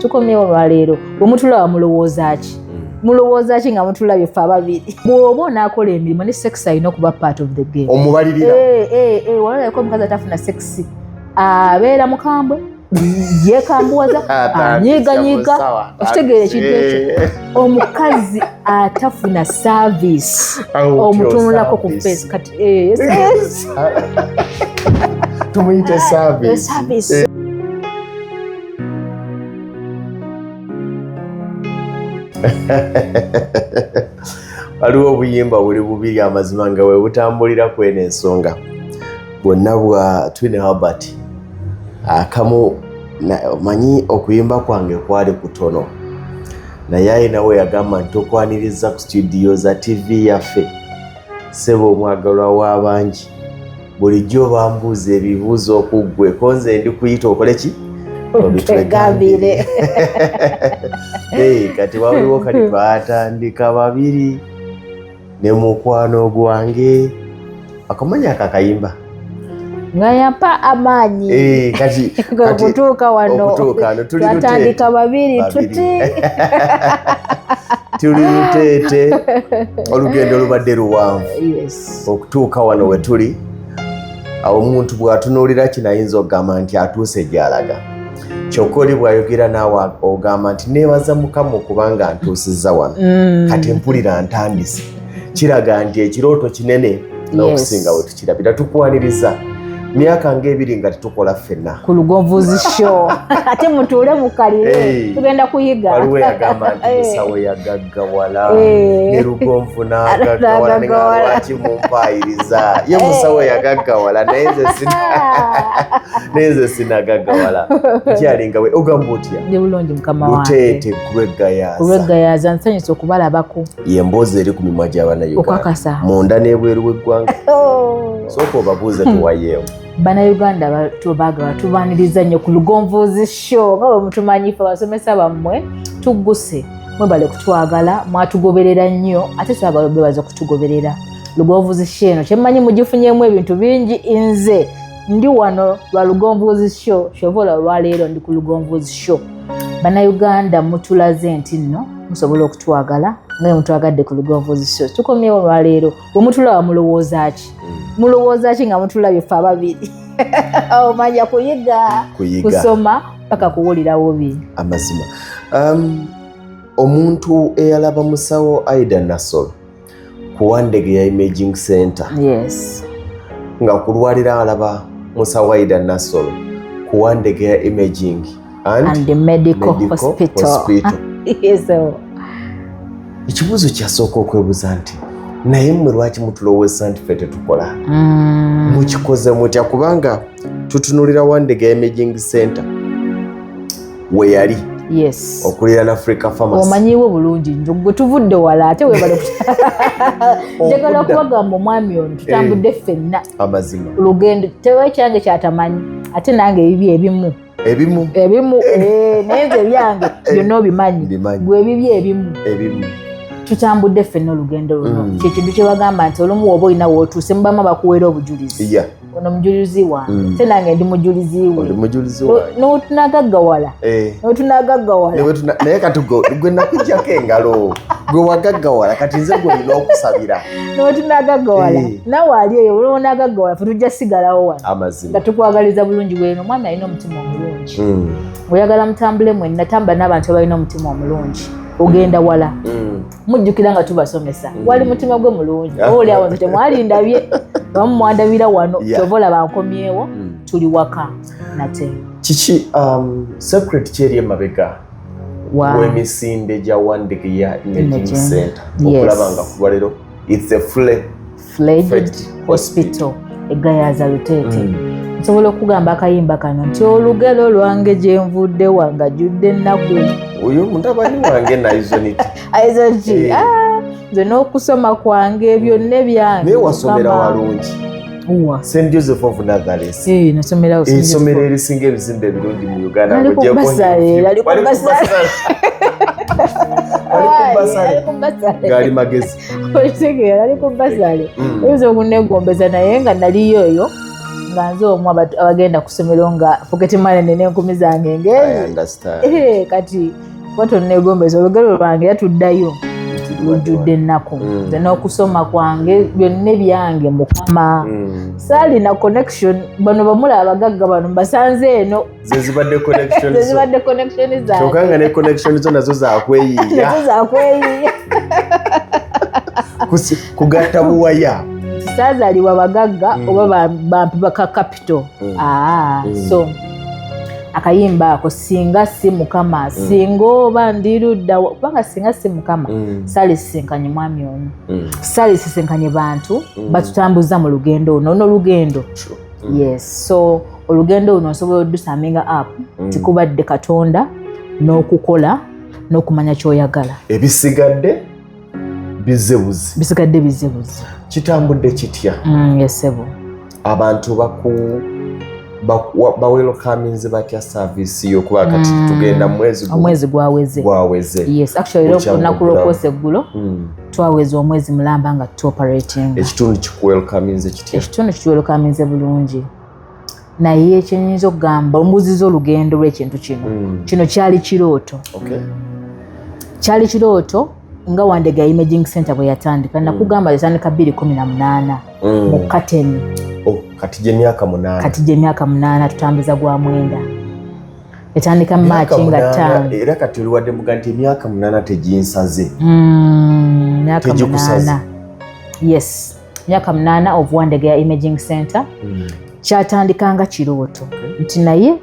tukomyewo lwaleero bwemutulaba mulowooza ki hmm. mulowooza ki nga mutulabye ffe ababiri bwoba onaakola emirimu ne sex alina okuba part of the game omubalirira eh, eh, eh, walalako omukazi atafuna sex abeera mukambwe yekambuwaza anyiganyiga okitegeera ekintu ekyo omukazi atafuna service omutunulako ku face kati eh, tumuyite service eh. waliwo obuyimba buli bubiri amazima nga webutambulira kwena ensonga bwonna bwa twin albert akamu Omanyi okuyimba kwange kwali kutono, naye ayina we yagamba nti tokwaniriza ku situdiyo za tivi yaffe, seba omwagalwa w'abangi bulijjo bambuuza ebibuuzo okuggwe ko nze ndi kuyita okole ki obitwegambire kati waliwo kati twatandika babiri ne mukwano gwange akamanya ako akayimba nga yampa amaanyi eh, okutuuka wano twatandika babiri tuti tuli luteete olugendo lubadde luwanvu okutuuka wano we tuli awo omuntu bw'atunuulira kinayinza okugamba nti atuuse gy'alaga kyokka oli bwayogera naawe ogamba nti neebaza mukama okubanga ntuusizza wano mm. kati mpulira ntandise kiraga nti ekirooto kinene n'okusinga we tukirabira tukwaniriza myaka ngaebiri nga tetukola ffenna ku lugovuzi sho ate mutuule mukalire tugenda kuyiga waliwo yagamba nti musawo yagaga gawala eh. ne lugonvu n'agagawala ne nga lwaki mumpaayiriza ye eh. musawo yagagawala naye nze sina naye nze sinagagawala kyalinga we ogamba otya ndi bulungi mukama wange luteete kubegayaza kubegayaza nsanyusa okubalabako ye mboozi eri ku mimwa gy'abanauganda okakasa munda n'ebweru w'eggwanga oh. sooka obabuuze tuwayeewo banauganda tubagala tubaniriza nnyo ku lugonvuzi show nga bwe mutumanyife abasomesa bammwe tugguse mwebale kutwagala mwatugoberera nnyo ate twagala bebaza okutugoberera lugonvuzi sho eno kyemmanyi mugifunyemu ebintu bingi nze ndi wano lwa lugonvuzi sho kyova olwa lwaleero ndi ku lugonvuzi sho bannayuganda mutulaze nti nno musobola okutwagala nga mutwagadde ku lugonvuzi sho tukomyewo olwaleero bwe mutulaba mulowooza ki mm. mulowooza ki nga mutulabye ffe ababiri omanya kuyiga kusoma paka kuwulirawo bi amazima um, omuntu eyalaba musawo aida nasol ku wandege ya imaging center yes nga kulwalira alaba musawo aida nasol ku wandege ya imaging and, and the medical, medical hospital, hospital. so, ekibuuzo kyasooka okwebuza nti naye mmwe lwaki mutulowooza nti ffe tetukola mm. mukikoze mutya kubanga tutunulira wandega imaging center weyali yes okulira na africa farmers omanyiwo bulungi njo gwe tuvudde wala ate webale njagala okubagamba omwami ono tutambudde eh, ffenna amazima olugendo tewe kyange kyatamanyi ate nange ebibyo ebimu ebimu ebimu eh. Eh, naye nze ebyange eh. byonna obimanyi gwe ebibi ebimu ebimu tutambudde ffenna olugendo luno mm. kyekintu kyebagamba nti olumu woba olina wotuuse mubama bakuweera obujulizi ono mujulizi wange mm. te nange ndi mujulizi wetunagaggawala notunagaggawalanaye kati gwe nakujjako engalo gwe wagaggawala kati nze gwe olina okusabira notunagaggawala nawe ali eyo olonagaggawala fe tujja sigalawo wano nga tukwagaliza bulungi bweno omwana alina omutima omulungi hmm. oyagala mutambule mwenna tamba n'abantu abalina omutima omulungi ogenda wala hmm. mujjukira nga tubasomesa hmm. wali mutima gwe mulungi ah. oli awo nze temwalindabye abamu mwandabira wano kyova olaba nkomyewo tuli waka nate kiki um, secret kyeri emabega wemisinde gya wandigiya imaging center okulaba nga kulwalero its a fule fledged hospital egayaza luteete mm. nsobola mm. okugamba akayimba kano nti olugero lwange gyenvudde wanga judde ennaku oyo mutabani wange naizonit aizonki eh. ah, nze n'okusoma kwange byonna ebyange naye wasomera walungi st joseph of nathares eh, esomero erisinga ebizimba ebirungi mu uganda ngaali magezi okitegera ali ku basale mm. oyinza okunegombeza naye nga naliyo eyo nga nze omu abagenda ku ssomero nga foketemanene n'enkumi zange ngeezi eh, kati kuba tonnegombeza olugero lwange era tuddayo lujjudde ennaku mm. nze n'okusoma kwange byonna ebyange mukama mm. saalina connection bano bamula abagagga bano mbasanze eno zezibadde connection zezibadde connection za kyoka nga ne connection zo nazo za kweyiya nazo za kweyiya kusi kugatta buwaya sazaliwa bagagga mm. oba bampi baka capital mm. ah mm. so akayimba ako singa si mukama mm. singa oba ndirudda kubanga singa si mukama mm. salisisinkanye mwami ono mm. salisisinkanye bantu mm. batutambuza mu lugendo ono ono lugendo mm. yes so olugendo luno osobola odusaminga app mm. tikubadde katonda n'okukola n'okumanya kyoyagala ebisigadde bizebuzi bisigadde bizebuzi kitambudde kitya mm, yesebo abantu baku bawelokaminzi batya saavisi yo kuba kati mm. tugenda mwezi omwezi gwaweze gwaweze yes actually olunaku lwokwoosa eggulo mm. twaweza omwezi mulamba nga tuoperating ekitundu kikuwelokaminze kitya ekitundu kituwelokaminze bulungi naye kyenyinza okugamba ombuziza olugendo lwekintu kino mm. kino kyali kirooto okay. kyali kirooto nga wandega imaging center bwe yatandika nakugamba yatandika bbiri kumi na munaana mm. mu kateni oh, kati gyemyaka munaana kati gyemyaka munaana tutambuza gwa mwenda etandika maaki nga ttaano era kati oliwadde muga nti emyaka munaana teginsaze mm, myaka munaana yes myaka munaana of Wandegeya Imaging Center mm. kyatandika nga kirooto okay. nti naye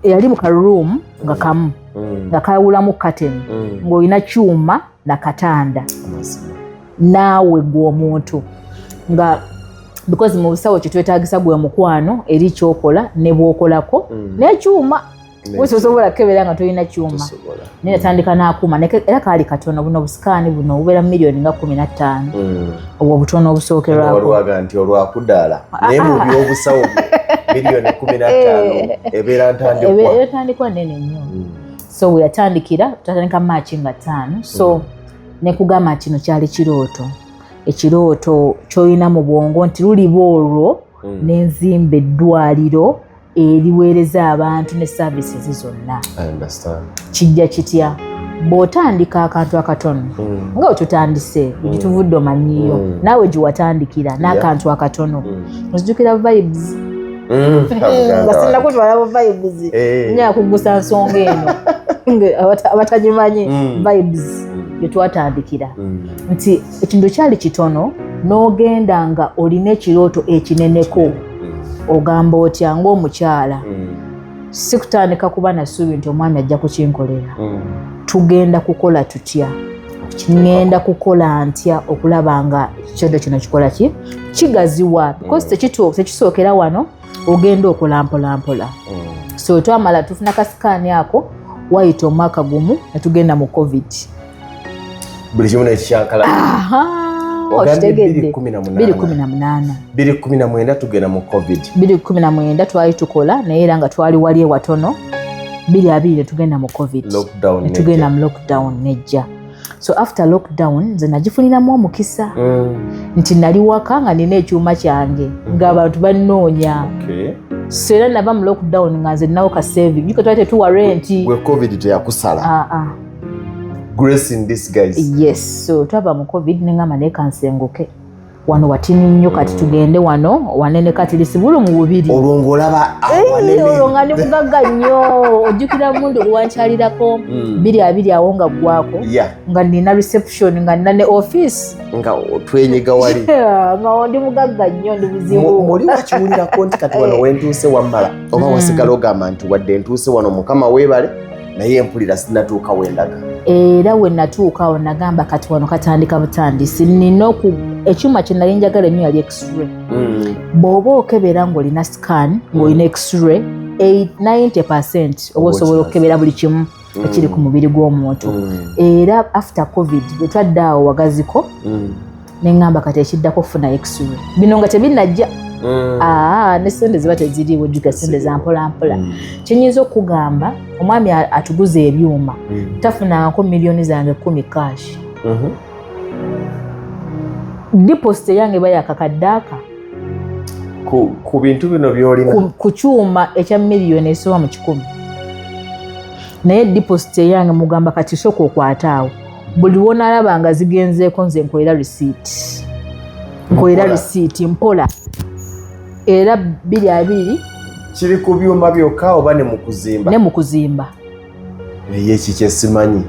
yali mu karoom nga kamu mm. nga kawulamu kateni mm. ng'olina kyuma na katanda naawe gwe omuntu nga because mu busawo kyetwetagisa gwe mukwano eri kyokola ne bwokolako mm. nekyuma osobola kukebera nga tolina kyuma naye natandika n'akuuma era kaali katono buno obusikaani buno obubeera mu miliyoni nga kumi na ttaano hmm. obwo obutono obusookerwakowaga nti olwakudaala ah, ah. naye mu byobusawo miliyoni kumi na ttaano eh. ebeera ntandikwa nene nnyo hmm. so weyatandikira tatandika maaki nga ttaano so hmm. nekugamba kino kyali kirooto ekirooto kyolina mu bwongo nti luliba olwo nenzimba eddwaliro eriweereza abantu ne services zonna kijja kitya bw'otandika akantu akatono mm. nga otutandise mm. gituvudde omanyiyo mm. naawe giwatandikira n'akantu akatono ozijukira vibes nga sinakutwala bu vibes eh. nyaa kuggusa nsonga eno abatagimanyi vibes gyetwatandikira nti ekintu kyali kitono n'ogenda nga olina ekirooto ekineneko ogamba otya ngaomukyala mm. si kutandika kuba nasuubi nti omwami ajja kukinkolera mm. tugenda kukola tutya ngenda kukola ntya okulaba nga ekyodo kino kikola ki kigaziwa mm. because tekisookera wano ogenda okola mpolampola so twamala tufuna kasikaani ako wayita omwaka gumu netugenda mu covid buli kimu nekikyankala kumi na mwenda tugenda mu covid biri kumi na mwenda twali tukola naye era nga twali wali ewatono biri abiri netugenda mu covid netugenda mu lockdown nejja so after lockdown nze nagifuniramu omukisa mm. nti nali waka nga nina ekyuma kyange mm-hmm. nga abantu banoonya so era nava mu lockdown nga nze nawo kaseving yuko twali tetuwa renti covid teyakusala ah, ah. grace in this guys yes so twava mu covid nengamba naye kansenguke wano watini nnyo kati tugende wano wanene kati lisibulu mu bubiri olwo ng'olaba olwo nga ndi mugagga nnyo ojjukira mundu gwewankyalirako mm. biri abiri awo nga ggwako nga nina reception nga nina ne office nga twenyiga wali nga ndi mugagga nnyo ndi buzibu muli wakiwulirako nti kati wano wentuuse wammala oba mm. wasigala ogamba nti wadde ntuuse wano mukama weebale naye mpulira sinatuuka wendaga era wenatuuka awo nagamba kati wano katandika butandisi nina ekyuma kyenali njagala enyo yali x-ray mm. bw'oba okebera ng'olina scan ng'olina x-ray 90 percent oba osobola okukebera buli kimu mm. ekiri ku mubiri gw'omuntu mm. era after covid bwetwadde awo wagaziko ne ŋŋamba kati ekiddako funa x-ray bino nga tebinnajja Mm. Ah, ne sente ziba teziriiwo jjuka sente za mpolampola mm. kyenyinza okukugamba omwami atuguza ebyuma mm. tafunangako miliyoni zange kumi kash mm-hmm. diposit eyange iba yakakaddaaka ku bintu bino byolina ku kyuma ekya miliyoni esoba mu kikumi naye diposit eyange mugamba kati soka okwataawo buli wonalaba nga zigenzeeko nze nkolera risiiti nkolera risiiti mpola era biri abiri kiri ku byuma byokka oba ne mukuzimba ne mukuzimba naye eki kyesimanyi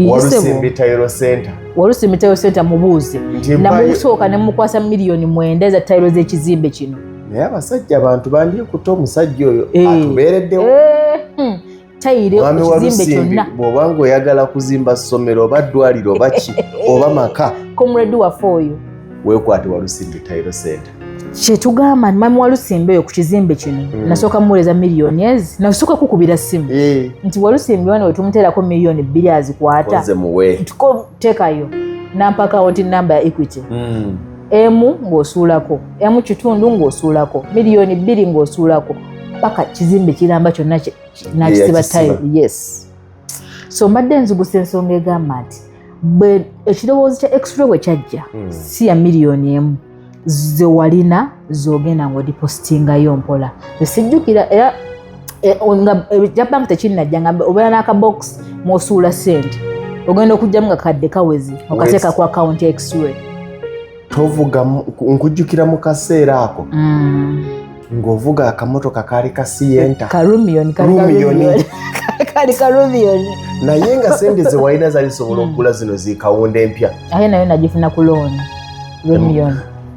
walusimbi tayiro center walusimbi tayiro center mubuuze namusooka ne mukwasa miliyoni mwenda eza tayiro z'ekizimbe kino naye abasajja abantu bandikuta omusajja oyo eh. atubeereddewo eh, hmm. tayire ekizimbe kyonna bwoba nga oyagala kuzimba ssomero oba ddwaliro oba ki oba maka komuredi waffe oyo wekwate walusimbi tayiro sente kyetugamba nti mami walusimbi oyo ku kizimbe kino mm. nasooka muweereza miliyoni ezi nasooka kukubira ssimu eh. nti walusimbi wana wetumuteerako miliyoni bbiri azikwata tekayo nampakawo nti namba ya equity mm. emu ng'osuulako emu kitundu ng'osuulako miliyoni bbiri ng'osuulako paka kizimbe kiramba kyonna nakisiba tayo yes so mbadde nzugusa ensonga egamba nti bwe ekirowoozo kya extra bwe kyajja hmm. si ya miliyoni emu zewalina zogenda ng'odipositingayo mpola esijjukira era eh, nga ekya eh, bank tekinnajja nga obeera n'akabox mwosuula sente ogenda okujjamu nga kadde kawezi okateeka ku akawunti exray tovuga nkujjukira mu kaseera ako mm. ng'ovuga akamotoka kaali ka siyenta karumiyoni kali karubion naye nga sente zewalina zali zisobola okugula zino zikawunda empya aye nayo nagifuna ku looni rumion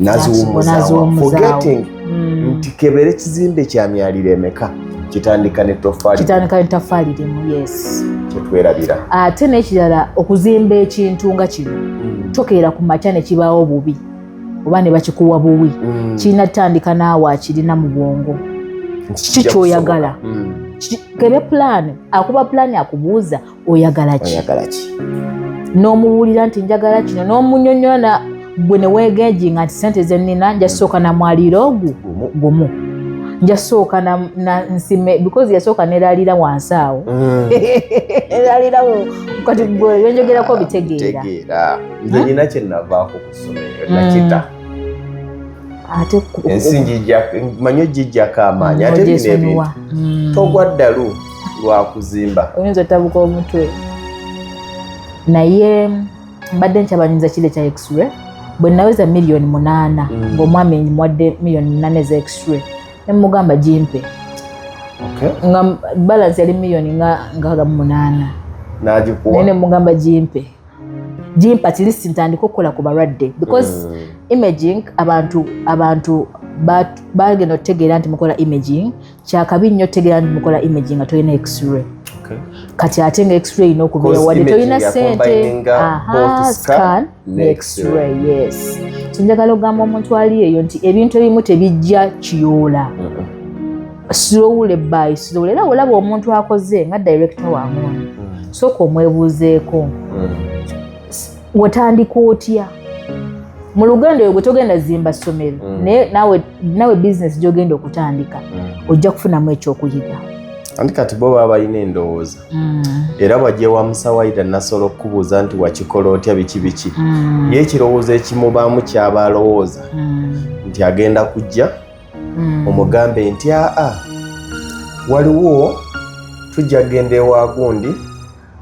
naziwumuzaawaforgetting mm. nti kebere kizimbe kya myaliro emeka kitandika ne tofalitandika ne tafali limu yes kyetwerabira ate n'ekirala okuzimba ekintu nga kino mm. tokeera ku makya ne kibaawo bubi oba ne bakikuwa buwi mm. kirina tutandika naawe akirina mu bwongo kiki kyoyagala kebe pulaani akuba pulaani akubuuza oyagala ki n'omuwulira nti njagala kino n'omunyonyola gwe ne weegenji nga nti sente ze nnina njasooka na mwaliiro ogwo gumu njasooka nsime because yasooka neralira wansi awo mm. eralirawo kati gwe yonjogerako bitegeera nze nyina hmm? kyenavaako ku ssomero hmm. nakita ate ensi manyi ojijjako amaanyi ate bino ebintu hmm. togwa ddalu lwakuzimba oyinza otabuka omutwe naye mbadde nkyabanyumiza kile kya x-ray bwe naweza miliyoni munaana mm. ngaomwami mwadde miliyoni munaana eza x-ray nemugamba gimpe nga balansi yali miliyoni nga nkaaga mu munaana naye nemugamba gimpe gimpa kilisi ntandika okukola ku balwadde because mm. imaging abantu abantu bagenda okutegeera nti mukola imaging kyakabi nnyo tegera nti mukola image nga tolina x-ray kati ate nga x-ray erina okubeera wadde tolina sente scan ne x-ray yes kinjagala okugamba omuntu ali eyo nti ebintu ebimu tebijja kiyoola slowly by slowly era olaba omuntu akoze nga director wa muntu mm. sooka omwebuuzeeko mm. watandika otya mu lugendo oyo gwe togenda zimba ssomero mm. naye nawe nawe bizinesi gyogenda okutandika mm. ojja kufunamu ekyokuyiga anti kati bo baba balina endowooza mm. era bwajja ewa musawayira nasobola okukubuuza nti wakikola otya biki biki ye ekirowoozo ekimubaamu kyaba alowooza nti agenda kujja omugambe nti aa waliwo tujja kugenda ewa gundi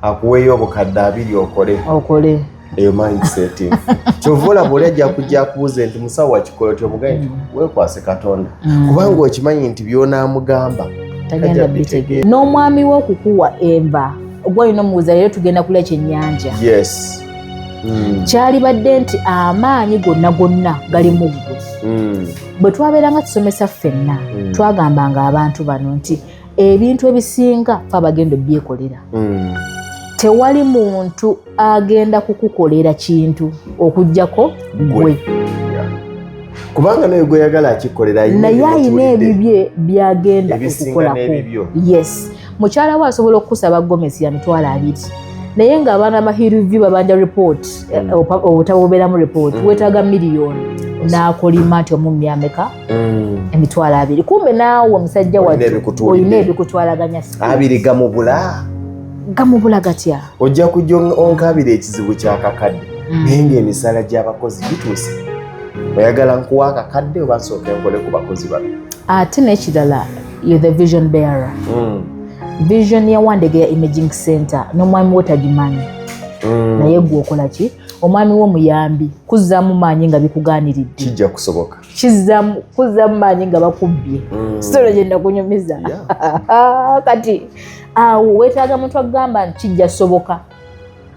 akuweeyo obukadde abiri okole okole eyo mindset kyova olaba oli ajja kujja akubuuze nti musawo wakikola otyo omugaye nti mm. wekwase katonda mm. kubanga okimanyi nti byonaamugamba tagenda bitegeera n'omwami we okukuwa enva gwalina omubuuza leero tugenda kulya kyennyanja yes mm. kyalibadde nti amaanyi gonna gonna gali mu ggwe bwe twabeeranga tusomesa ffenna twagambanga abantu bano nti ebintu ebisinga fe abagenda ebyekolera mm. tewali muntu agenda kukukolera kintu okugjako gwe kubanga naye gweyagala akikolera naye ayina ebibye byagenda okukolako yes mukyala we asobola okukusaba gomesi ya mitwalo abiri naye nga abaana ba hirivy babanja report mm. eh, obutabo bubeeramu report mm. wetaaga miliyoni n'akolima nti omumyameka mm. emitwalo abiri kumbe naawe omusajja olina ebikutwalaganya abiri gamubula gamubula gatya ojja kujja onkabira ekizibu kyakakadde mm. naye ngaemisala gyabakozi gituuse oyagala nkuwa akakadde oba nsooka enkole ku bakozi bano ate nekirala you the vision bearer mm. vision ya wandege ya imaging center n'omwami wo tagimanyi mm. naye gwe okola ki omwami wo muyambi kuzzaamu maanyi nga bikugaaniridde kijja kusoboka kizzamu kuzzamu maanyi nga bakubbye mm. sitolo gyenda kunyumiza kati awo wetaaga muntu akugamba nti kijja soboka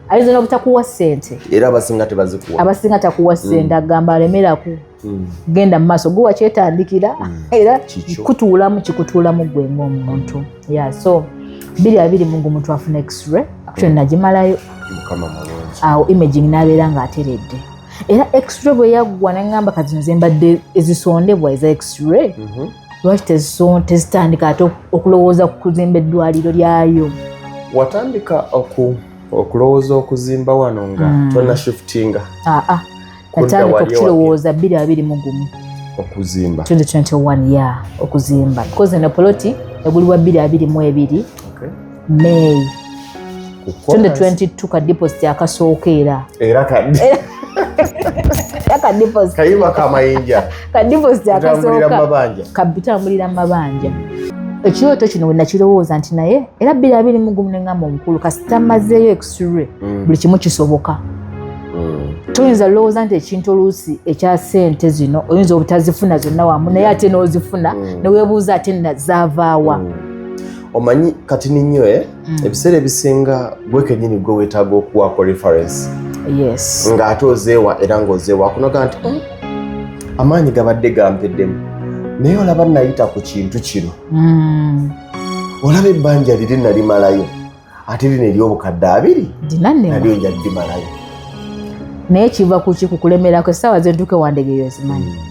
ayinza nobutakuwa sente era abasinga tebazikuwa abasinga takuwa mm. sente agamba alemeraku mm. genda mumaaso guwa kyetandikira era kutuulamu kikutuulamu gwe ngaomuntu ya so biri abiri mungu muntu afuna x-ray actually nagimalayo awo imaging nabeera nga ateredde era extra bwe yaggwa nangamba kati nze mbadde ezisondebwa eza extra mhm. lwaki tezitandika ate okulowooza ku kuzimba eddwaliro lyayo watandika okulowooza okuzimba wano nga hmm. tona shiftinga aa ah, ah. natandika okukirowooza bbiri abiri mu gumu okuzimba 2021 ya okuzimba koze na poloti eguli wa bbiri abiri mu ebiri may 2022 ka deposit akasooka era era kadde kayiba kamayinja kadiposit akasooka kabitambulira mabanja ekirooto kino wenakirowooza nti naye era biri abiri mugumu nengamba omukulu kasita mazeeyo exure mm. buli kimu kisoboka mm. toyinza olowooza nti ekintu oluusi ekya sente zino oyinza obutazifuna zonna wamu naye ate n'ozifuna mm. newebuuza ate nazaavaawa omanyi kati ninyo eh? mm. ebiseera ebisinga gwe kenyini gwe wetaaga okuwaako reference yes. ng'ate ozeewa era ng'ozeewa akunoga nti mm. amaanyi gabadde gampeddemu naye olaba nayita ku kintu kino mm. olaba ebbanja liri nalimalayo ate lino eryobukadde abiri nalyo nja limalayo naye kiva kuki kukulemerako esaawa zentuke wandegeyo zimanyi mm.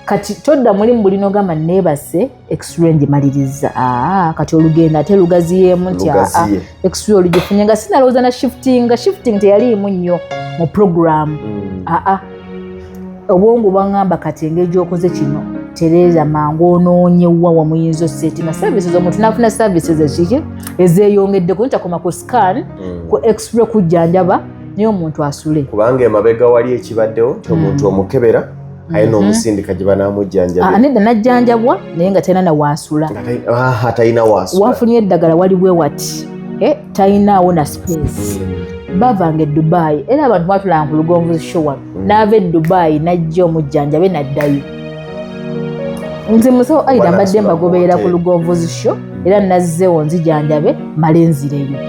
kati todda mulimu bulina ogamba nebase x-ray ngimaliriza ah, kati olugendo ate lugaziyeemu nti ah, ah, x-ray olugifunye nga sinalowooza na shifting nga shifting teyaliimu nnyo mu programu hmm. aa obwongo bwaŋamba kati engeri gyokoze kino tereeza mangu onoonye wa wamuyinza osetinga services omuntu nafuna services ekiki ezeyongeddeko ntakoma ku scan hmm. ku x-ray kujjanjaba naye omuntu asule kubanga emabega wali ekibaddewo nti omuntu hmm. omukebera aye mhm. n'omusindika gye banaamujjanjabira ah, nedda najjanjabwa naye nga talina na waasula ah, talina waasula wafunye eddagala wali bwe wati eh, talinaawo na space mm. bavanga edubayi era abantu batulanga ku lugonvu showa mm. n'ava edubayi najja omujjanjabe naddayo nze musawo aida mbadde mbagoberera ku lugonvuzi sho era nazzewo nzijanjabe male nzireyo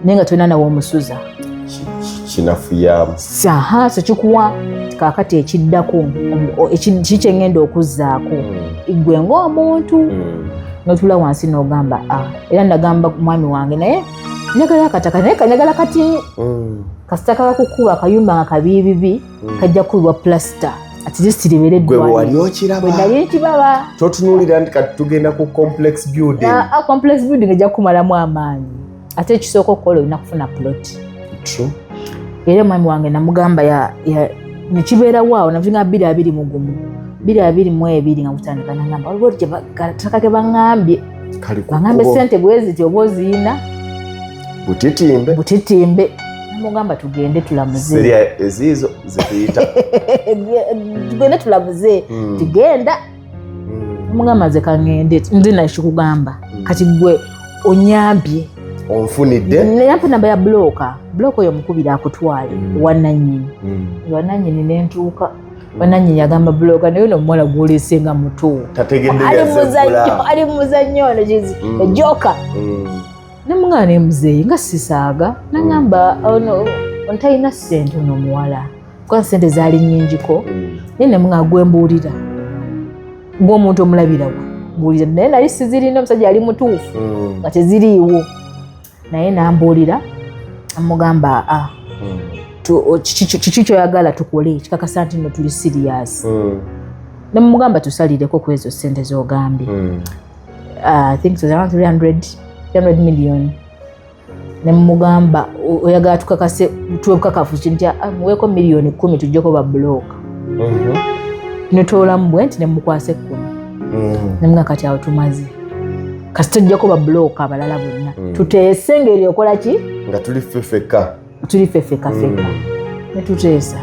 naye nga tolina nawe omusuza kinafuyamu saha so kikuwa kakati ekiddako kikyengenda okuzzaako hmm. gwe ngaomuntu hmm. notula wansi nogamba ah, era nagamba mwami wange naye njagala akataka naye kanjagala kati hmm. kasita kakakukuba akayumba nga kabiibibi kajja kukubibwa plasita atirisitirebereddwaewewalyokiraba totunulira nti kati tugenda ku complex building ah, ah, complex building ejja kukumalamu amaanyi ate ekisooka okukola olina kufuna plot era omwami wange namugamba nekibeerawo awo navinga biri abiri mugumu biri abiri mu ebiri nga gutandika nagamba waliwo taka ke baŋambye baŋambye sente bweziti oba oziyina butitimbe butitimbe namugamba tugende tulamuzeeziizo zetuyita tugende tulamuze hmm. tugenda omugamba nze kangende nze nakikugamba hmm. kati gwe onyambye onfunidde naye mpa namba ya bulooka bulooka oyo mukubira akutwale hmm. wananyini hmm. wananyini nentuuka bananyini agamba buloga naye no muwala gwolese nga muto ali muzannyo ono kizi ejoka nemugana nemuzeeyi nga sisaaga nangamba ono ontalina sente ono omuwala kuba sente zaali nnyingiko mm. naye nemuna gwembuulira ng'omuntu omulabirawo mbuulira naye nali sizirina omusajja yali mutuufu mm. nga teziriiwo naye nambuulira amugamba a ah, mm. kiki kyoyagala tukole kikakasa nti no tuli siriyasi nemugamba tusalireko ku ezo sente zogambye ah, i think it was around 300 300 million ne mugamba oyagala tukakase tuwe bukakafu ki nti ah, muweeko miliyoni kumi tujjeko babulooka mhm. netoolamu bwe nti nemukwasa ekkumi mhm. nemuga kati awo tumaze kasi tujjako babulooka abalala bonna mhm. tuteese ngeri okola ki nga tuli fefeka tuli fefeka feka netuteesa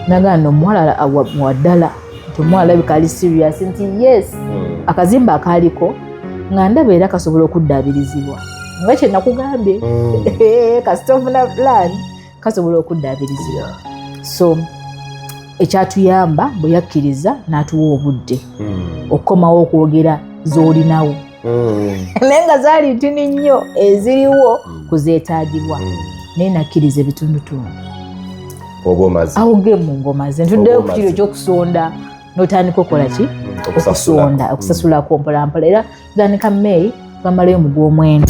nagaa no omuwalala waddala nti omuwala labika ali serious nti yes hmm. akazimba akaaliko nga ndaba era kasobola okuddaabirizibwa nga kye nakugambye hmm. kasita ofuna plan kasobola okuddaabirizibwa so ekyatuyamba bwe yakkiriza n'atuwa obudde hmm. okukomawo okwogera z'olinawo mm. naye nga zaali ntini nnyo eziriwo mm. kuzeetaagibwa mm. naye nakkiriza ebitundutundu awogemu ngomaze ntuddeyo ku kiro ekyokusonda notandika okola ki okusonda okusasulako mpolampola era tandika may bamalayo mu gwomwenda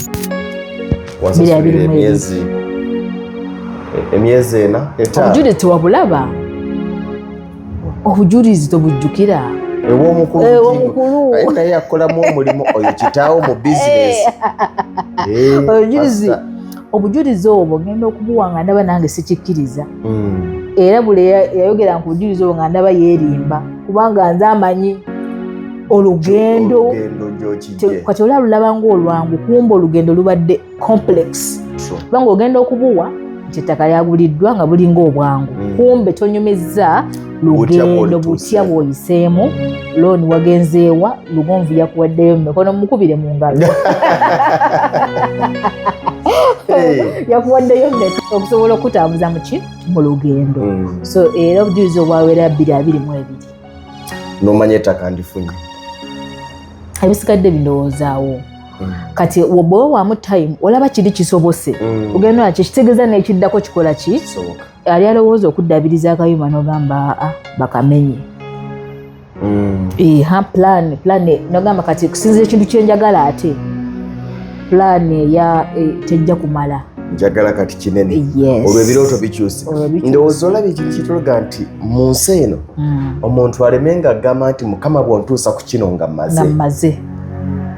bira birimu emyezi ena obujulizi tewabulaba obujulizi tobujjukira ewomukulu eh, eh, naye akolamu omulimu oyo kitaawo mu bizinesi eh, obujulizi obwo ngenda okubuwa nga ndaba nange sikikkiriza hmm. era buli yayogera nku bujulizi obwo nga ndaba yeerimba kubanga nze amanyi olugendo kati olaba lulaba ngaolwangu kumba olugendo lubadde complex kubanga ogenda okubuwa nti ettaka lyaguliddwa nga bulinga obwangu hmm. kumbe tonyumizza lugendo butya bwoyiseemu looni wagenzeewa lugonvu yakuwaddeyo mu mikono mukubire mu ngalo yakuwaddeyo mmeka okusobola okutambuza muki mu lugendo hmm. so era obujulizi obwawera bbiri abiri mu ebiri nomanya ettaka ndifunye ebisigadde bindowoozaawo mm. kati bwoba wamu time olaba kiri kisobose mm. ogenda naki ekitegeeza nekiddako kikola ki ali alowooza okuddabiriza akayuma nogamba aa bakamenye mm. eha plan plan nogamba kati kusinza ekintu kyenjagala ate plan eya e, tejja kumala njagala kati kinene olwo ebirooto bikyuse ndowooza olaba ekintu kitulaga nti mu nsi eno mm. omuntu aleme nga agamba nti mukama bwontuusa ku kino nga maze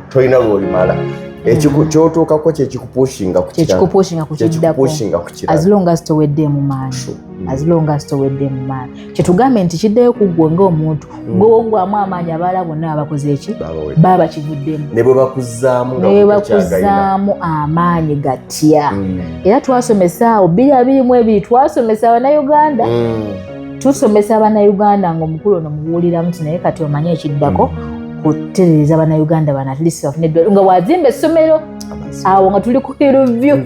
tolina lwolimala kyotuukako kyekikupushinga kukiraazilongasitoweddemu maani azilongasitoweddemu maani kyetugambe nti kiddeyo kuggwe ngaomuntu mm. gwewogwamu amaanyi abaala bonna abakoze eki baba bakivuddemu nebwebakuzaamu amaanyi gatya mm. era twasomesa awo biri abiri mu ebiri twasomesa abanauganda mm. tusomesa bannayuganda ngaomukulu ono mubuuliramu nti naye kati omanye ekiddako mm. kuterereza bannayuganda bana at least bafune eddwaliro nga wazimba essomero awo nga tuli ku hillview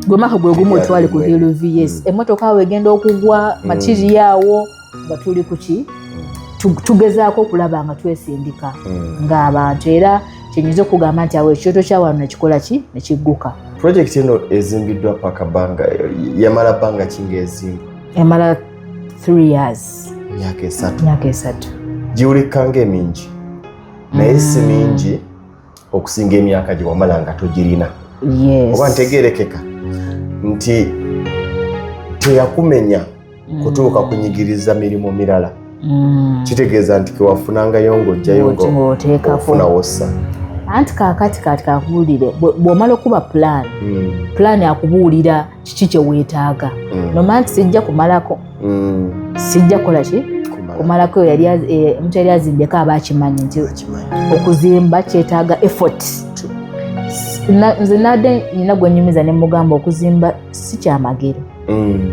gwe mwaka gwe gumu otwali ku hillview yes mm. emmotoka awo egenda okugwa mm. matiriyo awo nga tuli kuki tugezaako okulaba nga twesindika ng'abantu era mm. kyenyinza okugamba nti awo ekyoto kya wano nekikola ki nekigguka projekiti eno ezimbiddwa paka banga yamala banga kinga ezimba emala three years myaka esatu myaka esatu giwulika nga emingi naye si mm. mingi okusinga emyaka gye wamala nga togirina oba ntegerekeka nti teyakumenya mm. kutuuka kunyigiriza mirimu mirala mm. kitegeeza nti kewafunangayo ngaojjayo ngaofuna wossa anti kakati kati kakubuulire bw'omala okuba pulaani mm. pulaani akubuulira kiki kye weetaaga mm. nomanya nti sijja kumalako mm. sijja kukola ki kumalako omuntu eh, yali azimbeko aba akimanyi nti okuzimba kyetaaga effort nze nadde nina gwenyumiza nemugamba okuzimba si kyamagero mm.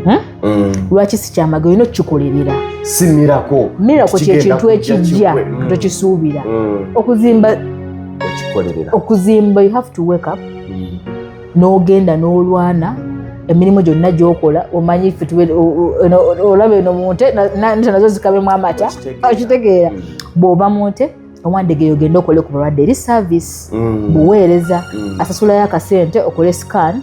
hmm? mm. lwaki sikyamagero olina okukikolerera si mirako mirako kyekintu ekijja mm. tokisuubira mm. okuzimba okikolerera okuzimba you have to wake up mm. n'ogenda n'olwana emirimu gyonna gyokola omanyi ffe olaba eno mu nte nte nazo zikabemu amata okitegeera mm. bw'oba mu nte owandegere ogende okole ku balwadde eri service mm. buweereza mm. asasulayo akasente okole scan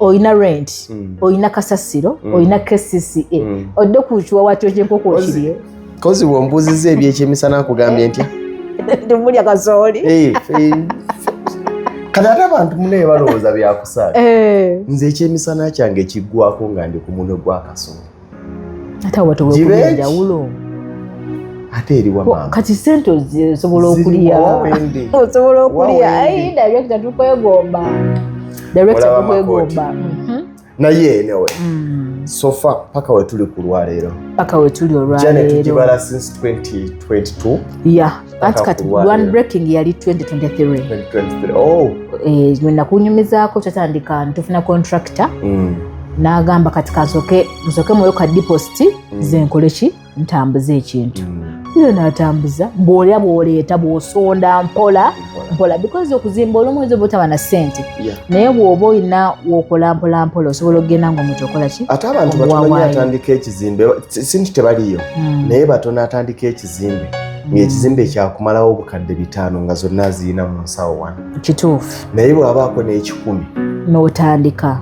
olina rent mm. olina kasasiro mm. olina kcca mm. odde ku kiwawa kyo kyenkoko okirye kozi wombuuziza ebyekyemisana nkugambye ntya ndimulya kasooli eh, eh. kati ate abantu munaye balowooza byakusaala eh. nze ekyemisana kyange kiggwako nga ndi ku munwe gwakasooli ate eriwakati sente osobola okulya osobola okulya ayi director tukwegomba director tukwegomba mhm. naye enewe mm. sofa paka wetuli kulwaleero paka wetuli olwaleero janet jibala since 2022 yeah anti kati one breaking yali 2023 oh. eh, nakunyumizaako kyatandika ntufuna contractor mm. nagamba kati kasoke nsoke mwoyo ka deposit mm. zenkole ki ntambuza ekintu mm. nze natambuza bwolya bwoleeta bwosonda mpola mpola because okuzimba olumu oyinza obutaba na sente naye bwoba olina wokola mpola mpola osobola okugenda nga omuntu okola ki ate abantu batomanyi atandika ekizimbe sinti tebaliyo mm. naye batono atandika ekizimbe ekizimbe ng'ekizimbe kyakumalawo obukadde bitaano nga zonna zirina mu nsawo wano kituufu naye bw'abaako n'ekikumi n'otandika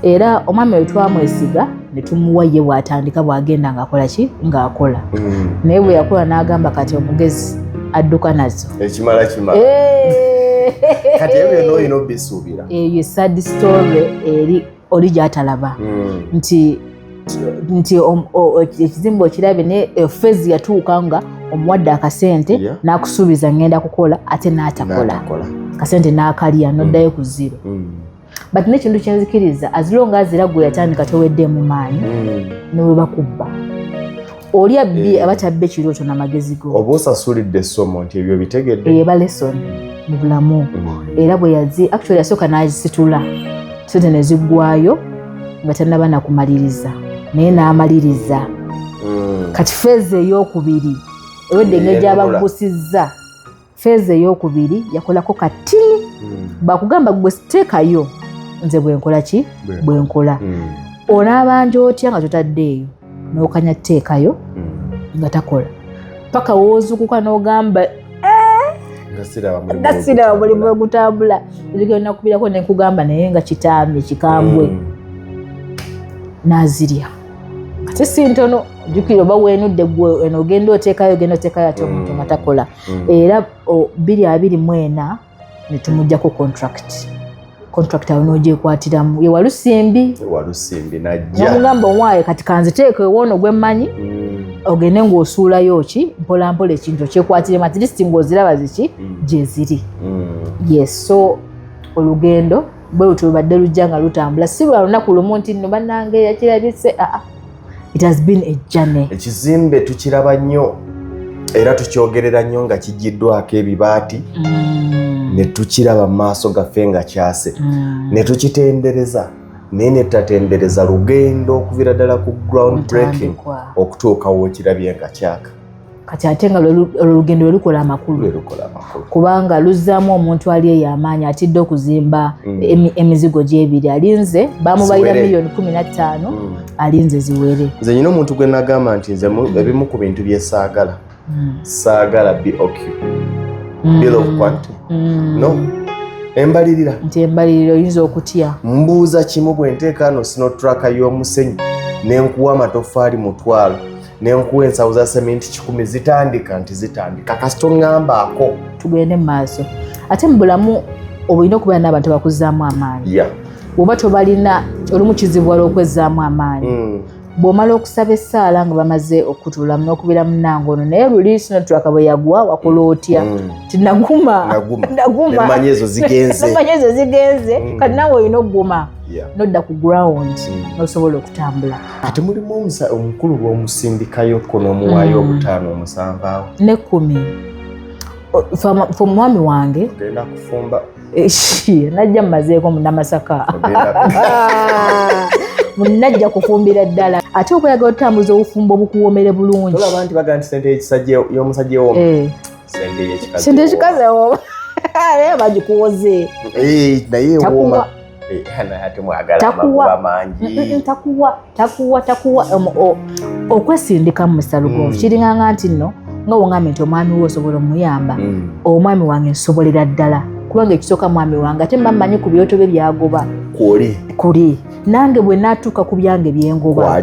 era omwami we twamwesiga ne tumuwa ye bw'atandika bw'agenda ng'akola ki ng'akola mm. naye bwe yakola n'agamba kati omugezi adduka nazo ekimala kimala kati ebyo byonna olina obisuubira eyo sad story eri oli gyatalaba mm. nti nti ekizimba okirabe naye eh, fezi yatuuka nga omuwadde akasente yeah. nakusuubiza ngenda kukola ate natakola kasente nakalya noddayo mm. ku ziro mm. but nekintu kyenzikiriza azilonga azira gwe yatandika tewedde mu maanyi mm. newebakubba oli abbi eh. aba kyabba ekirooto namagezi go oba osasulidde essomo nti ebyo bitegedde eba lesson mu bulamu mm. era bwe yazi actually yasooka nazisitula sente neziggwayo nga tanaba nakumaliriza naye n'amaliriza mm. kati feeza eyokubiri ewedde engeri gyabaggusizza feeza eyokubiri yakolako katini hmm. bakugamba gwe siteekayo nze bwenkola ki bwenkola hmm. onaabanja otya nga totadde eyo nokanya teekayo hmm. nga takola paka wozukuka nogamba eh, nasiraba mulimu wegutambula nakubirako nenkugamba naye nga kitambi kikambwe nazirya ate si ntono jukira oba wenudde gwe eno ogenda oteekayo ogenda oteekayo ate omuntu nga takola mm. era biri abiri mwena netumujjako contract contract awo nogyekwatiramu ye walusimbi walusimbi najjamugamba owaye kati kanziteeko ewoono gwemmanyi mm. ogende ngaosuulayo ki mpola mpola ekintu okyekwatiremu at least ngaoziraba ziki mm. gyeziri mm. yes so olugendo bwe lutyo lubadde lujja nga lutambula si lwa lunaku lumu nti nno bannange yakirabise aa ah, ah. It has been a journey. Ekizimbe tukiraba nnyo era tukyogerera nnyo nga kigiddwako ebibaati mm. ne tukiraba mu maaso gaffe nga kyase mm. ne tukitendereza naye ne tutatendereza lugendo okuvira ddala ku ground breaking okutuuka wokirabye nga kyaka kati ate nga olugendo lwe lukola amakulu kubanga luzzaamu omuntu ali eyo amaanyi atidde okuzimba mm. emizigo gyebiri alinze bamubalira miliyoni kumi na ttaano mm. alinze ziwere nze nyina omuntu gwe nagamba nti nze ebimu ku bintu bye saagala mm. saagala boq bill of quantity no embalirira nti embalirira oyinza okutya mbuuza kimu bwe nteekaano sinotraka y'omusenyu ne nkuwa amatoffaali mutwalo nenkuwa ensawo za sementi kikumi zitandika nti zitandika kasita oŋŋambaako tugende mu maaso ate mu bulamu obulina okubeera n'abantu abakuzzaamu amaanyi yeah. oba tobalina olumu kizibu wala okwezzaamu amaanyi mm. bw'omala okusaba essaala nga bamaze okutulamu n'okubeera munange ono naye luli sinotulaka bwe yagwa wakola otya mm. ti naguma nagumaemanya ezo zigenze mm. kati nawe olina okuguma nodda ku ground mm. n'osobola okutambula ate mulimu omusa omukulu lwomusindikayo ko nomuwaayo mm. obutaano omusanvu awo nekumi fe omwami wange genda kufumba najja mumazeeko munamasaka munajja kufumbira ddala ate okweyagala otambuza obufumbo bukuwomere bulungi olaba nti bagamba nti sente yomusajja ewoma eh. sente yekikazi ewoma naye bagikuwoze eh, naye ewoma Eh, okwesindika mu misalugonvu mm. kiringanga nti nno nga wongambye nti omwami we osobola omuyamba mm. omwami wange nsobolera ddala kubanga ekisooka mwami wange ate mba mmanyi ku byoto bye byagoba kuli nange bwe natuuka ku byange byengoba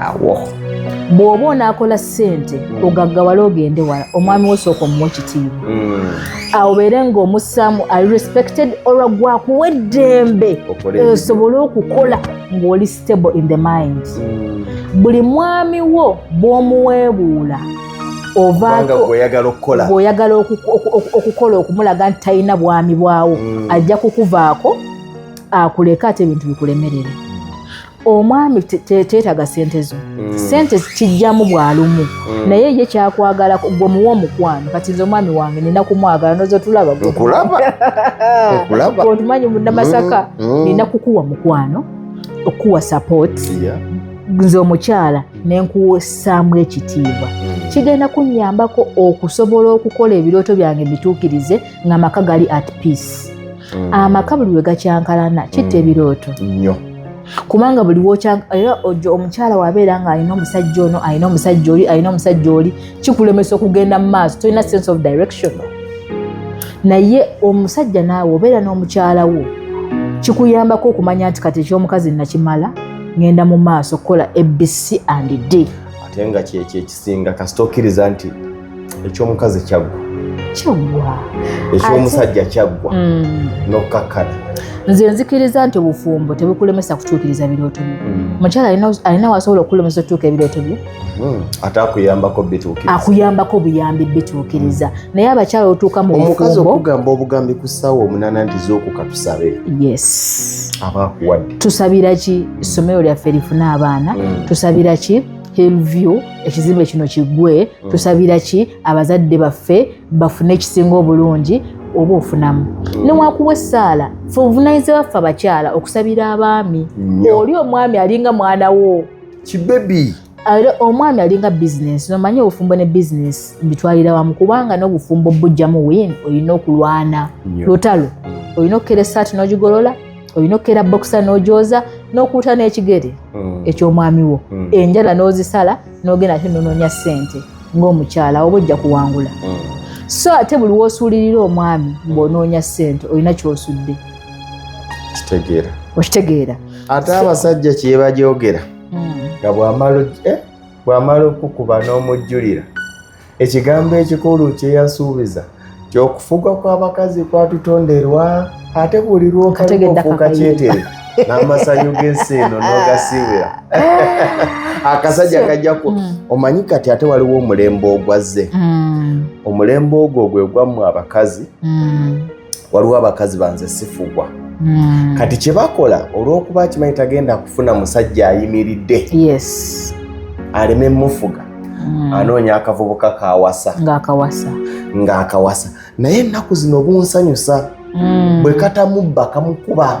awo bw'oba onaakola ssente mm. ogaggawala ogende wala omwami wosooka omuwa ekitiibwa mm. awo beere ng'omussaamu ali respected olwa gwakuwa eddembe esobole okukola ng'oli stable in the mind mm. buli mwami wo bw'omuweebuula ovaoyagala okukola okukola okumulaga nti talina bwami bwawo ajja kukuvaako akuleka ate ebintu bikulemerere omwami kyetaga sente zo mm. sente kijjamu bwalumu mm. naye ye kyakwagala gwe muwa omukwano kati nze omwami wange nina kumwagala noza otulaba otumanyi munamasaka mm, nina kukuwa mukwano okukuwa support nze omukyala nenkuwesaamu ekitiibwa kigenda kunyambako okusobola okukola ebirooto byange bituukirize nga amaka gali at peace mm. amaka buli wegakyankalana kitta mm. ebirooto nyo kubanga buli era ojo omukyala wabeera nga alina omusajja ono alina omusajja oli alina omusajja oli kikulemesa okugenda mu maaso tolina sense of direction naye omusajja naawe obeera n'omukyala wo kikuyambako okumanya nti kati ekyomukazi nakimala ngenda mu maaso kukola abc and d ate nga kyekyo ekisinga kasita okkiriza nti ekyomukazi kyaggwa kyaggwa ekyomusajja kyaggwa mm. nokukakkana nze nzikiriza nti obufumbo tebukulemesa kutuukiriza birooto byo mm. mukyala alina wasobola okukulemesa okutuuka ebirooto byo mm. ate akuyambako bituukiriza akuyambako obuyambi bituukiriza naye abakyala otuuka mu omukazi okugamba obugambi ku ssaawa omunana nti zookuka tusabe yes abakuwadde tusabira ki ssomero lyaffe lifune abaana tusabira ki hillview ekizimbe kino kigwe mm. tusabira ki abazadde baffe bafune ekisinga obulungi oba ofunamu mm. newakuwa essaala fe obuvunanyizibwa baffe abakyala okusabira abaami oli omwami alinga mwana wo kibebi era omwami alinga bizinesi nomanyi obufumbo ne bizinesi mbitwalira wamu kubanga n'obufumbo bujjamu win olina okulwana lutalo olina okukera esaati n'ogigolola olina okukera bokisa n'ogyoza n'okuuta n'ekigere mm. eky'omwami wo mm. enjala n'ozisala n'ogenda ate nonoonya ssente ng'omukyala oba ojja kuwangula mm. so ate buli woosuulirira omwami ng'onoonya ssente olina ky'osudde kitegeera okitegeera ate abasajja kyebajogera nga bwamala eh, okukuba n'omujjulira Ekigambo ekikulu kyeyasuubiza kyokufuga kw'abakazi kwatutonderwa ate buli lwokaofuuka kyetere n'amasanyu g'ensi eno n'ogasiibira akasajja kajja ku mm. omanyi kati ate waliwo omulembe ogwazze mm. omulembe ogwo gwe gwammwe abakazi mm. waliwo abakazi banze sifugwa hmm. kati kyebakola olwokuba akimanyi tagenda kufuna musajja ayimiridde aleme mufuga hmm. anoonya akavubuka kawasa ngaakawasa naye ennaku zino bunsanyusa hmm. bwe katamubba kamukuba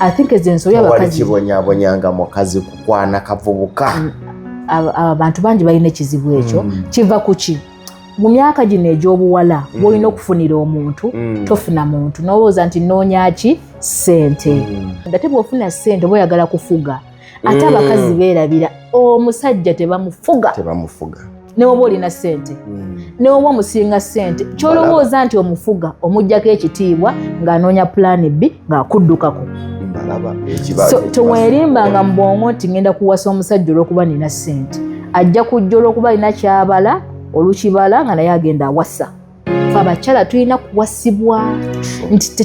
i think ezo ensobi abakazibonyabonyanga mukazi kukwana kavubuka mm, abantu bangi balina ekizibu ekyo mm. kiva kuki mu myaka gino egyobuwala mm. bwolina okufunira omuntu tofuna muntu nowooza nti noonyaki sente ate bwofuna sente oba oyagala kufuga ate abakazi beerabira omusajja tebamufuga newoba olina sente hmm. newoba omusinga sente kyolowooza nti omufuga omujjako ekitiibwa ng'anoonya pulaani bbi ng'akuddukako tewerimbanga mu bwongo nti ngenda kuwasa omusajja olwokuba nina sente ajja kujja olwokuba alina kyabala olukibala nga naye agenda awasa fe abakyala tulina kuwasibwa nti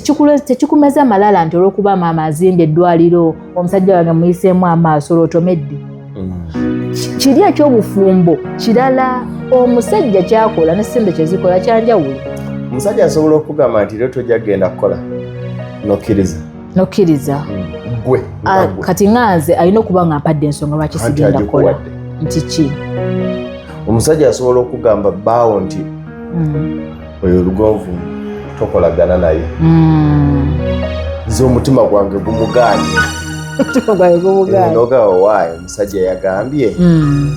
tekikumeza malala nti olwokuba maama azimba eddwaliro omusajja wange muyiseemu amaaso lwotomedde mm. kiri ekyobufumbo kirala omusajja kyakola ne sente kyezikola kyanjawulo omusajja asobola okugamba nti lero tojja kugenda kukola nokkiriza nokkiriza gwe Ah, kati nga nze alina okuba nga mpadde ensonga lwaki Anti sigenda kola agikuwadde. nti ki omusajja asobola okugamba baawo nti Mm. oyo lugonvu tokolagana naye Mm. nze omutima gwange gumugaanye Omutima gwange gubugaanye. nogawa waayo omusajja yagambye Mm.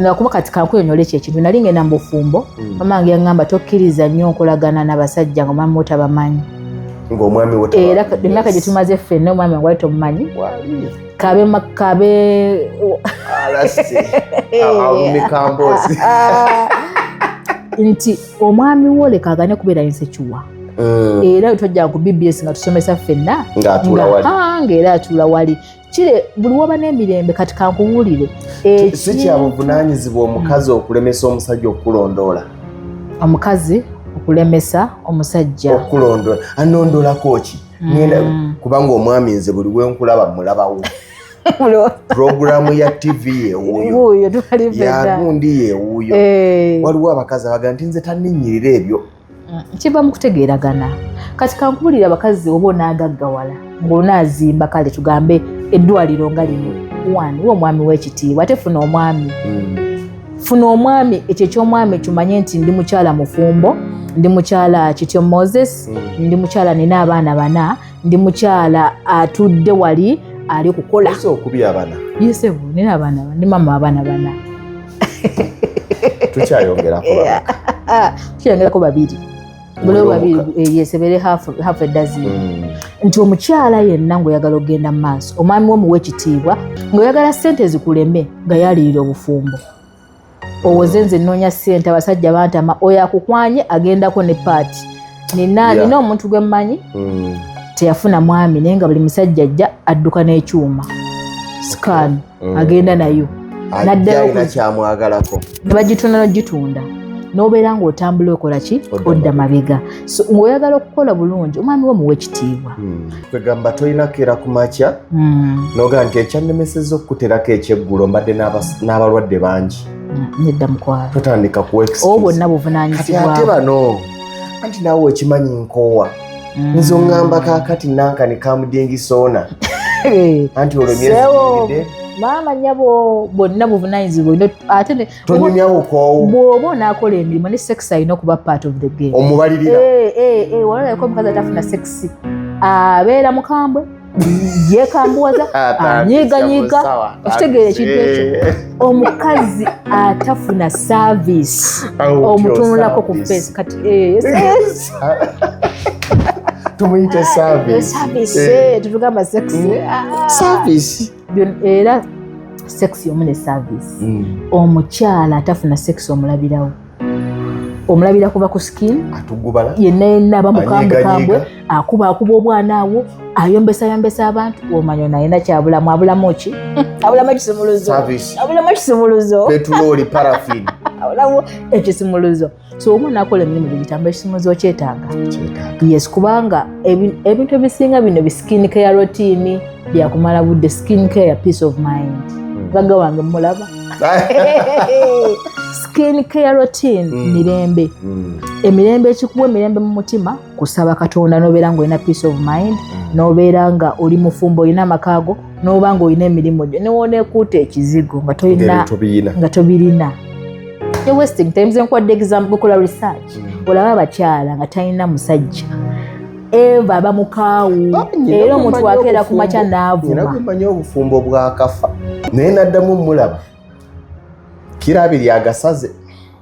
nakuba kati kankunyonyole ekyo ekintu nali ngenda mubufumbo mm. mama wange yangamba tokkiriza nnyo nkolagana nabasajja nga omwami wotabamanyi era emyaka gyetumaze ffenna omwami wange wali tomumanyi kabe kabe nti omwami wo leka agane kubeera insekiwa mm. era tojja ku bbs nga tusomesa ffenna ngaera atuula wali kire buli woba n'emirembe kati kankubuulire si kya buvunaanyizibwa omukazi okulemesa omusajja okukulondoola omukazi okulemesa omusajja okulondoola anondolako ki ngenda mm. kubanga omwami nze buli wenkulaba mulabawo puroguramu ya tv yewuyo yagundi yewuyo eh. waliwo abakazi abaga nti nze taninyirira ebyo mm, kiva mu kutegeeragana kati kankubulira abakazi oba onaagaggawala ng'onaazimba kale tugambe eddwaliro nga lino wani wa omwami w'ekitiibwa ate funa omwami mm. funa omwami ekyo eky'omwami kimanye nti ndi mukyala mufumbo ndi mukyala kityo moses mm. ndi mukyala nina abaana bana ndi mukyala atudde wali ali kukola okubya abana yesebo nina abaana ndi mama abaana bana tukyayongerako tukyayongerako babiri bulewo babiri eh, yesebere hafu edazini mm. nti omukyala yenna ngaoyagala okugenda mu maaso omwami wo muwa ekitiibwa ngaoyagala sente zikuleme nga yalirira obufumbo owoze nze nnoonya sente abasajja bantama oyo akukwanye agendako ne paati nina nina omuntu gwe mmanyi mm. teyafuna mwami naye nga buli musajja ajja adduka n'ekyuma sikaani mm. agenda nayo naddalakyamwagalako nebagitunda nogitunda nobeera nga otambula okola ki odda mabega so ngaoyagala okukola bulungi omwami wo muwa ekitiibwa hmm. kwegamba tolinakeera ku makya hmm. noga nti ekyannemeseza okukuterako ekyeggulo mbadde n'abalwadde bangi hmm, nedda mukwalo totandika kuwa obwo bonna buvunanyizibwa ate bano anti naawe okimanyi nkoowa nzo ngamba kakati nanka ne kamudingi sona anti olwo myezi maama nyabo bonna buvunanyizibwa ate tonyumyawo koowo bwoba onakola emirimu ne sex alina okuba part of the game omubalirira eh, eh, eh, walaeko omukazi atafuna sexy abeera mukambwe yekambuwaza anyiganyiga okitegeera ekintu ekyo eh. omukazi atafuna saavisi omutunulako ku fesi kati eh, tumuyite eh, tetugamba saavisi mm. era sekisi omu ne saavisi mm. omukyala atafuna sekisi omulabirawo omulabira kuva ku skin yenna yenna aba mukambukambwe akuba akuba obwana awo ayombesa yombesa abantu omanya nayena kyabulamu abulamu ki abulamu ekisimuluzo abulamu ekisimuluzo petulooli parafin abulamu ekisimuluzo so omu nakola emirimu gyegitamba ekisimuluzo kyetaaga yes kubanga ebintu ebisinga bino bisikinika ya rotiini byakumala budde skin care peace of mind hmm. gaga wange mulaba skin care routine hmm. mirembe hmm. emirembe ekikuwa emirembe mu mutima kusaba katonda nobeera nga olina peace of mind nobeera nga oli mufumbo olina amakaago noba nga olina emirimu gyo newonekuuta ekizigo nga tolina nga tobirina wasting times enkuwadde example kola research olaba abakyala nga talina musajja eva bamukaawu ah, era omuntu akeera ku makya naavumamanyi obufumbo bwakafa naye naddamu mulaba kirabiri agasaze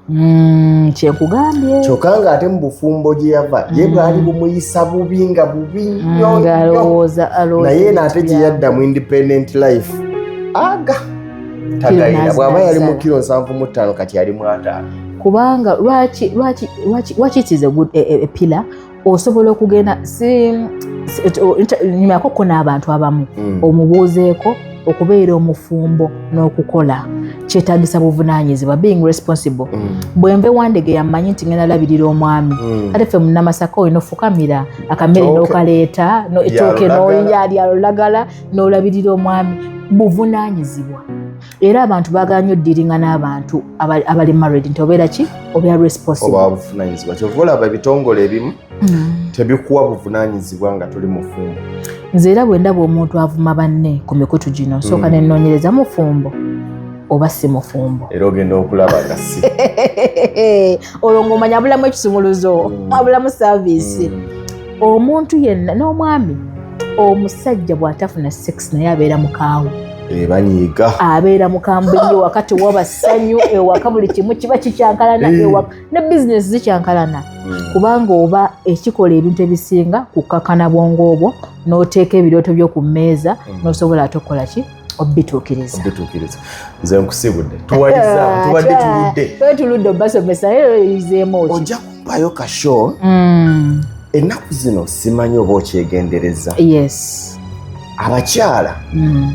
hmm, kyekugambye kyokka nga ate mu bufumbo gye yava ye hmm. bwali bumuyisa bubi nga bubi hmm, nyonnaye naate gye yadda mu independent life aga tagayina bw'aba yali mu kiro nsanvu mu ttaano kati yali mu ataano kubanga lwaki lwaki lwaki lwaki it is a good a, a, a pillar osobola okugenda nyumako ko n'abantu abamu mm. omubuuzeeko okubeera omufumbo n'okukola kyetagisa buvunanyizibwa being responsible mm. bwembe wandege yamanyi nti ngenda labirira omwami mm. kale ffe munamasaka oyo nofukamira akamere nokaleeta etooke noyalya lulagala nolabirira omwami buvunanyizibwa era abantu baagala nnyo ddiringa n'abantu abali married nti obeera ki obeera responsiblebuvunanyizibwa kyova olaba ebitongole ebimu mm. tebikuwa buvunanyizibwa nga tuli mufumbo nze era bwe ndaba omuntu avuma banne ku mikutu gino sooka mm. nenoonyereza mufumbo oba si mufumbo era ogenda okulaba nga si olwo ngaomanya abulamu ekisumuluzo mm. abulamu saavisi omuntu yenna n'omwami omusajja bw'atafuna sex naye abeera mukaawo Eh, banyiiga abeera mukambwe nyo waka tewaba ssanyu ewaka buli kimu kiba kikyankalana eh. ewaka ne bizinesi zikyankalana hmm. kubanga oba ekikola ebintu ebisinga kukkakana bwongo obwo n'oteeka ebirooto byo ku mmeeza hmm. n'osobola ate okukola ki obituukiriza nze nkusibudde tuwaliza ah, tubadde tuludde tuludde obasomesa eyo eh, eyizeemu oki bayo ka show mm. ennaku zino simanyi oba okyegendereza yes abakyala mm.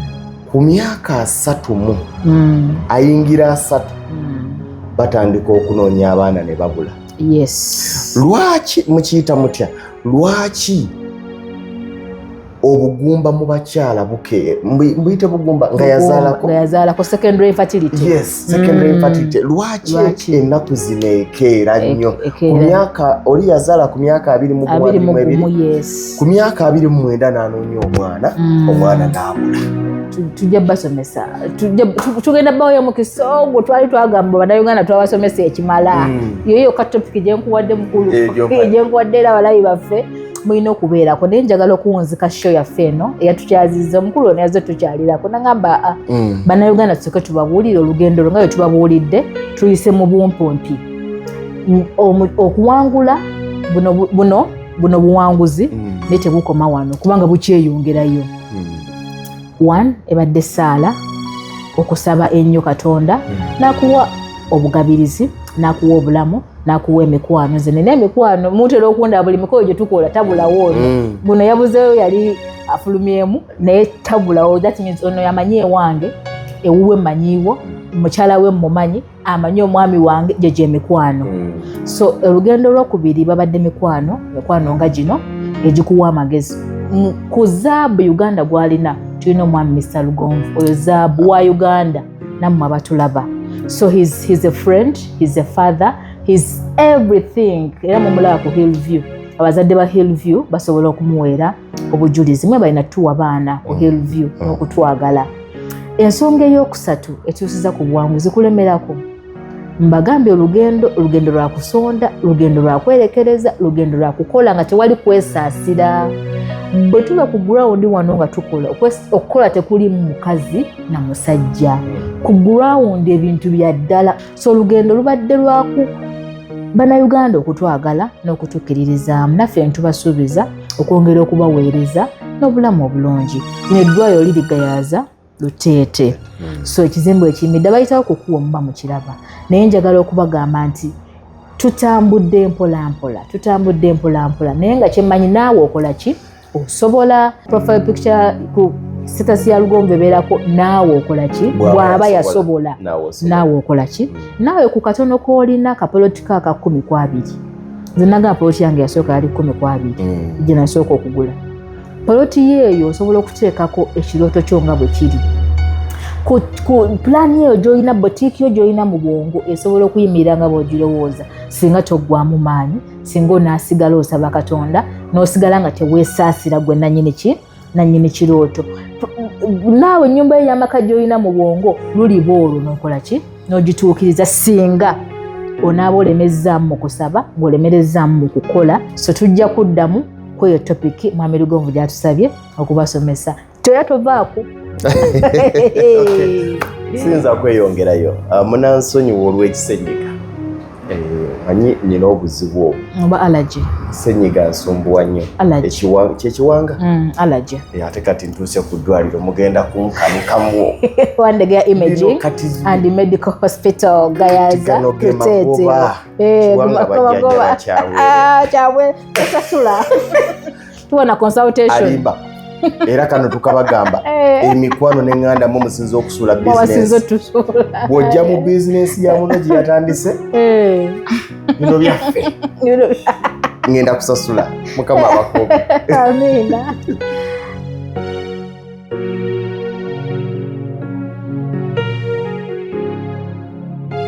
ku myaka asatu mu mm. ayingira asatu mm. batandika okunoonya abaana ne babula yes lwaki mukiyita mutya lwaki obugumba mu bakyala buke mbuyite bugumba nga yazaalako nga yazaalako secondary infertility yes secondary mm. infertility lwaki ennaku zino ekeera e- nnyo ku myaka oli yazaala ku myaka abiri mu gumu abiri mu ebiri ku myaka abiri mu mwenda n'anoonya omwana mm. omwana n'abula tujja basomesa tugenda bawoyo mukisa ogwo twali twagamba banauganda twabasomesa ekimala mm. yoyo katopiki gyenkuwadde mukulu gyenkuwadde era balayi baffe mulina okubeerako naye njagala okuwunzika sho yaffe eno eyatukyazizza omukulu ono yaze tukyalirako nagamba ah, mm. bannayuganda tusoke tubabuulire olugendo lwo nga lwe tubabuulidde tuyise mu bumpumpi mm, okuwangula buno buno buno buwanguzi mm. naye tebukoma wano kubanga bukyeyongerayo mm. one ebadde saala okusaba ennyo katonda mm. nakuwa obugabirizi nakuwa obulamu nakuwa emikwano nze nina emikwano mutera okunda buli mikolo gye tukola tabulawo ono mm. guno yabuzeeyo yali afulumyemu naye tabulawo that means ono yamanyi ewange ewuwe manyiiwo mukyala we mumanyi amanyi omwami wange gye gyemikwano mm. so olugendo lwokubiri babadde mikwano mikwano nga gino egikuwa amagezi ku zaabu uganda gwalina tulina omwami mr lugonvu oyo zaabu wa uganda nammwe abatulaba so he's, he's a friend he's a father he's everything era mumulaba ku hill view abazadde ba hill view basobola okumuweera obujulizi mwe balina tuwa baana ku hill view n'okutwagala ensonga ey'okusatu etuusiza ku bwangu zikulemerako mbagambye olugendo olugendo lwa kusonda lugendo lwa kwerekereza lugendo lwa kukola nga tewali kwesaasira bwe tuba ku gurawundi wano nga tukola okukola tekuli mukazi na musajja ku gurawundi ebintu bya ddala so olugendo lubadde lwaku bannayuganda okutwagala n'okutukiririzaamu naffe ntubasuubiza okwongera okubaweereza n'obulamu obulungi neddwayo lirigayaaza luteete hmm. so ekizimbu ekiyimidde bayitawo kukuwa omuba mukiraba naye njagala okubagamba nti tutambudde mpolampola tutambudde mpolampola naye nga kyemmanyi naawe okola ki osobola profile picture ku sitasi ya lugonvu ebeerako naawe okola ki bw'aba yasobola naawe okola ki hmm. naawe ku katono koolina kapoloti ka ka kkumi ku abiri nze nagamba poloti yange yasooka yali kkumi ku abiri hmm. gye nasooka okugula poloti yeeyo osobola okuteekako ekirooto kyo nga bwe kiri ku pulaani eyo gyolina botiiki yo gyolina mu bwongo esobola okuyimirira nga bwogirowooza singa toggwamu maanyi singa onaasigala osaba katonda n'osigala nga teweesaasira gwe nanyini ki nanyini kirooto naawe ennyumba yo ey'amaka gyolina mu bwongo luliba olwo nokola ki n'ogituukiriza singa onaaba olemezzaamu mu kusaba ng'olemerezzaamu mu kukola so tujja kuddamu ku eyo topiki mwami lugonvu gyatusabye okubasomesa toya tovaako siyinza kweyongerayo ah, munansonyiwa olw'ekisenyiga eh, manyi nina obuzibu obwo oba alaji senyiga nsumbuwa nnyo kyekiwanga mm, alaji eh, ate kati ntuuse ku ddwaliro mugenda kunkanukamu wandegeya imaging and medical hospital gayaza kuteteakyabwe osasula tuwa na consultation alimba era kano tukabagamba eh. emikwano neŋŋanda mu musinza okusula bw'ojja mu bizinensi ya muno gye yatandise eh. bino byaffe ŋŋenda kusasula mukama abakuume amiina